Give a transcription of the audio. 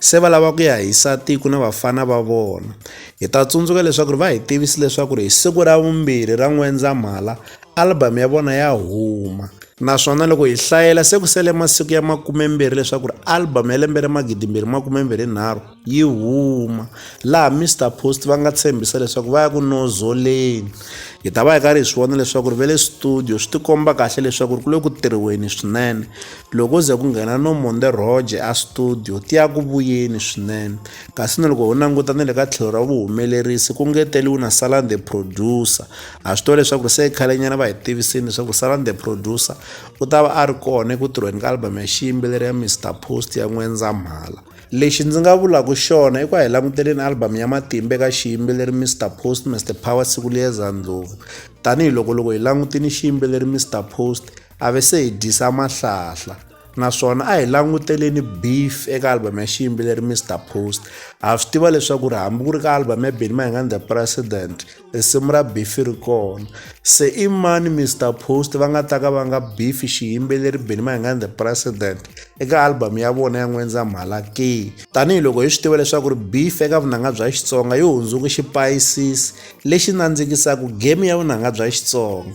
Se va lava ku ya hisa tiko na vafana va vona. Hi ta tsundzuka leswaku va hi tivise leswaku hi siku ra vumbirhi ra N'wendzamhala album ya vona ya huma. Naswona loko hi hlayela se ku sele masiku ya makumembirhi leswaku album ya lembe ra magidimbirhi makumembirhi nharhu yi huma, laha Mister Post va nga tshembisa leswaku va ya ku nozoleni. Hi ta va hi karhi hi swi vona leswaku va le studio, swi tikomba kahle leswaku ku le ku tirhiweni swinene. loko ze ku nghena no monde roje a studio ti ya ku vuyeni swinene kasi na loko ho languta na le ka tlhelo ra vuhumelerisi ku ngeteliwi na salan the producer a swi tiva leswaku se khalenyana va hi tivisini leswaku salan the producer u ta va a ri kona eku tirhweni ka album ya xiyimbeleri ya mr post ya n'wendzamhala lexi ndzi nga vulaka xona i ku a hi languteleni album ya matimba eka xiyimbeleri mr post mr power siku liyeza ndlovu tanihiloko loko hi langutini xiyimbeleri mr post a ve se hi dyisa mahlahla naswona a hi languteleni beef eka album ya xiyimbeleri mr post ha swi tiva leswaku ri hambi ku ri ka album ya benny mahingan the president risimu ra beef ri kona se i mani mr post va nga ta ka va nga beef xiyimbeleri benny mahingan the president eka album ya vona ya n'wendza mhala ke tanihiloko hi swi tiva leswaku ri beef eka vunanga bya xitsonga yi hundzuke xipayisisi lexi nandzikisaka game ya vunanga bya xitsonga